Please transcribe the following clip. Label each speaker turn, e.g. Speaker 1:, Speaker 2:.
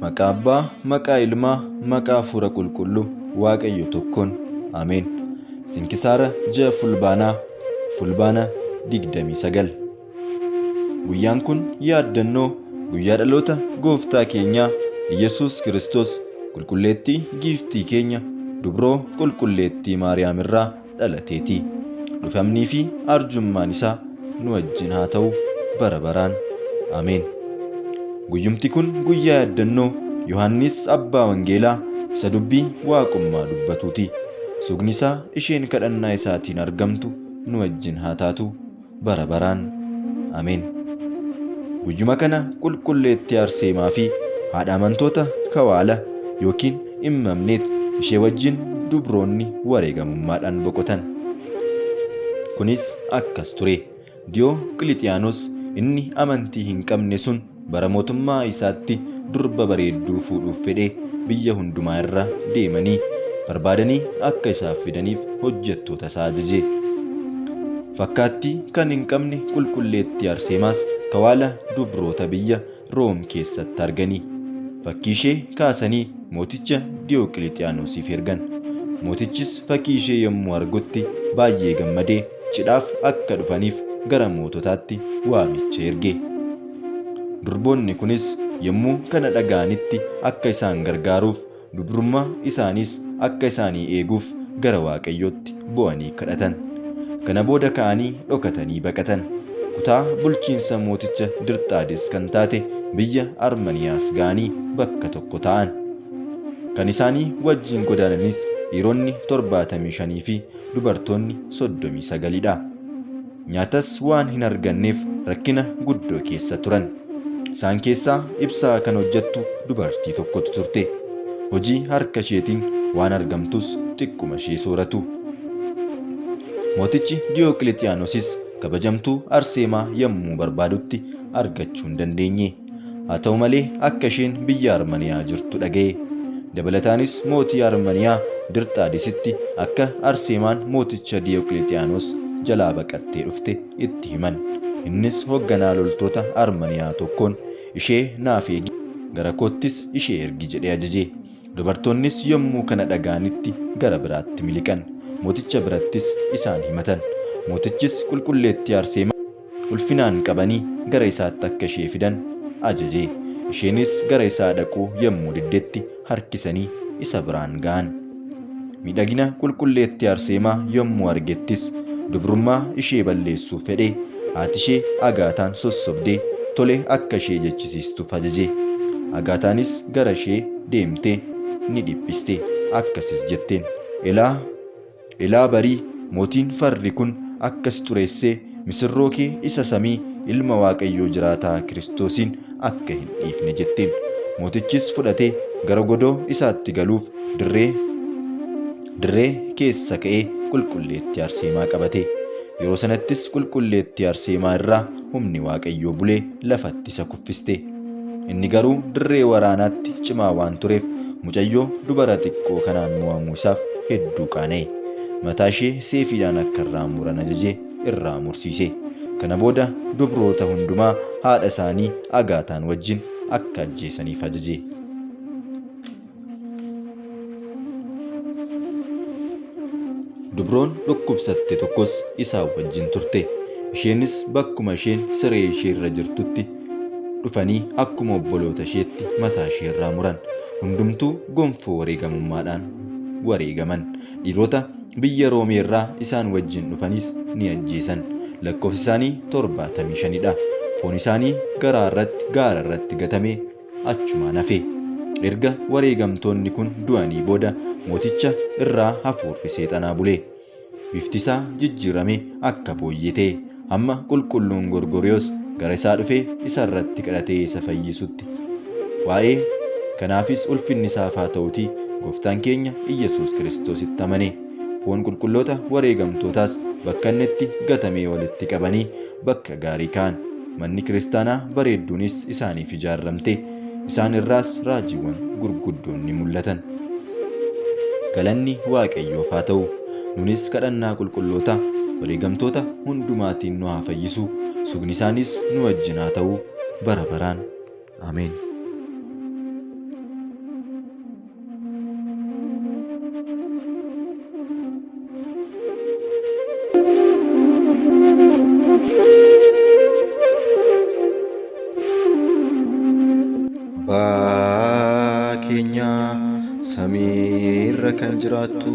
Speaker 1: Maqaa Abbaa, maqaa Ilmaa, maqaa Hafuura Qulqulluu, Waaqayyo tokkoon. Ameen. Sinkisaara ji'a Fulbaanaa, Fulbaana 29. Guyyaan kun yaaddannoo guyyaa dhaloota gooftaa keenyaa Iyyasuus Kiristoos qulqulleettii giiftii keenya dubroo qulqulleettii Maariyaam irraa dhalateeti. Dhufamnii fi arjummaan isaa nu wajjin haa ta'u bara baraan. Ameen. Guyyumti kun guyyaa yaaddannoo Yohaannis Abbaa Wangeelaa isa dubbii waaqummaa dubbatuuti. Sugni isaa isheen kadhannaa isaatiin argamtu nu wajjin haa taatu. bara baraan. Ameen. Guyyuma kana qulqulleettii Arseemaa fi haadha amantoota kawaala yookiin immamneet ishee wajjin dubroonni wareegamummaadhaan boqotan. Kunis akkas ture. Diyoo Qilixiyaanoos inni amantii hin qabne sun Bara mootummaa isaatti durba bareedduu fuudhuuf fedhe biyya hundumaa irra deemanii barbaadanii akka isaaf fidaniif hojjettoota isaa ajaje. Fakkaattii kan hin qabne qulqulleettii Arseemaas kawaala dubroota biyya Room keessatti argani. Fakkii ishee kaasanii mooticha Diyooqilixiyaanosiif ergan. Mootichis fakkii ishee yommuu argutti baay'ee gammadee cidhaaf akka dhufaniif gara moototaatti waamicha erge. Durboonni kunis yommuu kana dhaga'anitti akka isaan gargaaruuf, dubrummaa isaaniis akka isaanii eeguuf gara Waaqayyootti boo'anii kadhatan. Kana booda ka'anii dhokatanii baqatan. Kutaa bulchiinsa mooticha Dirxaades kan taate biyya Armaniyaas ga'anii bakka tokko taa'an. Kan isaanii wajjin godaananis dhiironni torbaatamii shanii fi dubartoonni 39 dha. Nyaatas waan hin arganneef rakkina guddoo keessa turan. Isaan keessaa ibsaa kan hojjettu dubartii tokkotu turte. Hojii harka isheetiin waan argamtus xiqquma ishee sooratu. Mootichi Diyooqilixiyaanosis kabajamtuu Arseemaa yommuu barbaadutti argachuu hin dandeenye. Haa ta'u malee akka isheen biyya Armaniyaa jirtu dhaga'e. Dabalataanis mootii Armaniyaa Dirxaadisitti akka Arseemaan mooticha Diyooqilixiyaanoos jalaa baqattee dhufte itti himan. Innis hoogganaa loltoota Armaniyaa tokkoon ishee naaf eegi, gara koottis ishee ergi jedhee ajaje. Dubartoonnis yommuu kana dhaga'anitti gara biraatti miliqan. Mooticha birattis isaan himatan. Mootichis qulqulleettii Arseemaa ulfinaan qabanii gara isaatti akka ishee fidan ajaje. Isheenis gara isaa dhaquu yommuu diddetti harkisanii isa biraan ga'an. Miidhagina qulqulleettii Arseemaa yommuu argettis dubrummaa ishee balleessuuf fedhee haati ishee Agaataan sossobdee tole akka ishee jechisiistuuf ajaje. Agaataanis gara ishee deemtee ni dhiphiste, akkasis jetteen, Elaa! Ilaa barii, mootiin farri kun akka si xureessee misirroo kee isa samii Ilma Waaqayyoo jiraataa Kiristoosiin akka hin dhiifne jetteen. Mootichis fudhatee gara godoo isaatti galuuf dirree dirree keessa ka'ee qulqulleettii Arseemaa qabate. Yeroo sanattis qulqulleettii Arseemaa irraa humni Waaqayyoo bulee lafatti isa kuffiste. Inni garuu dirree waraanaatti cimaa waan tureef mucayyoo dubara xiqqoo kanaan mo'amuu isaaf hedduu qaana'e. Mataa ishee seefiidhaan akka irraa muran ajaje irraa mursiise. Kana booda dubroota hundumaa haadha isaanii Agaataan wajjin akka ajjeesaniif ajaje. Dubroon dhukkubsatte tokkos isaa wajjin turte. Isheenis bakkuma isheen siree ishee irra jirtutti dhufanii akkuma obboloota isheetti mataa ishee irraa muran. Hundumtuu gonfoo wareegamummaadhaan wareegaman. Dhiirota biyya Roomee irraa isaan wajjin dhufanis ni ajjeesan. Lakkoofsi isaanii torbaatamii shanidha. Foon isaanii garaa irratti gaara irratti gatamee achumaan hafe. Erga wareegamtoonni kun du'anii booda mooticha irraa hafuurri seexanaa bule. Bifti isaa jijjiirame akka booyyee ta'e. Hamma qulqulluun Gorgoriyoos gara isaa dhufee isa irratti kadhatee isa fayyisutti. Waa'ee kanaafis ulfinni isaaf haa ta'uti gooftaan keenya Iyyasuus Kiristoositti amane. Foon qulqulloota wareegamtootaas bakka inni itti gatamee walitti qabanii Bakka gaarii ka'an. Manni kiristaanaa bareedduunis isaaniif ijaarramte. Isaan irraas raajiiwwan gurguddoon ni mul'atan. Galanni Waaqayyoof haa ta'u! Nunis kadhannaa qulqulloota wareegamtoota hundumaatiin nu haa fayyisu, sugni isaaniis nu wajjin haa ta'u bara baraan. Ameen. Abbaa keenya samiirra kan jiraattu